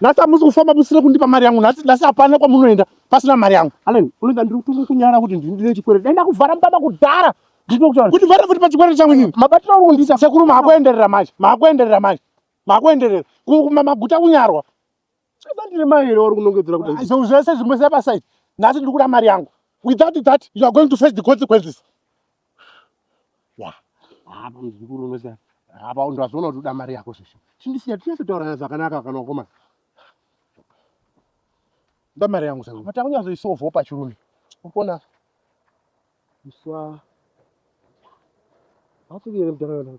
nhasi hamusi kufamba musina kundipa mari yangu nhasi nhasi hapana kwamunoenda pasina mari yangu allen unoita ndiri kutunga kunyara kuti ndini ndine chikwere dai ndakuvhara mubaba kudhara ndinokutaura kuti vhara futi pachikwere changu inini mabatiro auri kundiisa sekuru maakuenderera manje maakuenderera manje maakuenderera Ku- kuma- maguta kunyarwa Sasa ndine mai here vari kunongedzera kuti handisi- izvo zvese zvimwe sepasaiti nhasi ndiri kuda mari yangu without that you are going to face the consequences apa muzukuru unoziva apa ndazviona kuti uda mari yako zveshe chindisiya tinyatsotaurana zvakanaka kana ukoma nda mari yangu zvangu but akunyatsoisovho pachirume ukona iswa hatigere mdara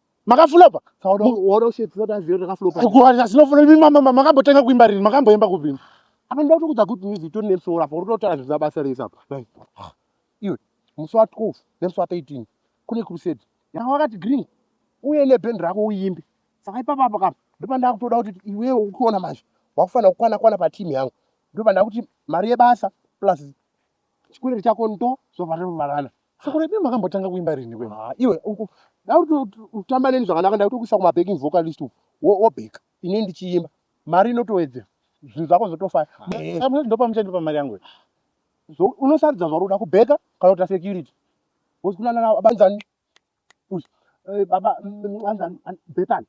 makaflopa makambotenga kuimba rini makamboimba kupini apa ndoda kutokudza good news itori nemusoro apa uri kutotaura zvisina basa rese apa iwe musi wa 12 nemusi wa 13 kune crusade yanga wakati green uye neband rako uimbe saka ipapa apa kapa ndopandaa kutoda kuti iwewe ukiona manje wakufanira kukwana kwana patimu yangu ndopandaa kuti mari yebasa plus chikwiriri chako ndo zvobva zvavarana Sekuru Edwin makambotanga kuimba rini kwe? Ah, iwe uku dauti utamba neni zvakanaka ndakuti kuisa kuma backing vocalist uku wobeka ini ndichiimba mari inotowedzera zvinhu zvako zvotofaya eh. samwe ndopa muchandi pa mari yangu unosarudza zvauri kuda kubeka kana kuita security wozikunana navo abanzani Eh, baba mm, anzani an- betani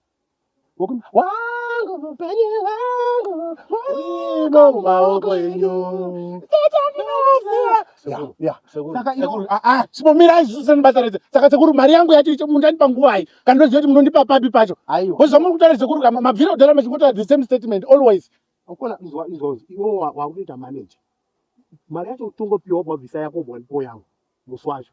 Wokum- wangu mupenyu wangu urimo mumaoko enyu Ya, ya. Saka ino- Ah, ah, sipomirai senibasaridze saka sekuru mari yangu yacho icho mundandipa nguvai kana ndoziva kuti munondipa papi pacho aiwa wezva muri kutaura sekuru kama mabvira kudara machingotaura the same statement always ukona izwa izwa iwo wa- wakutoita manager mari yacho utongopiwa wabva visa yako wabva ndipo yangu musi wacho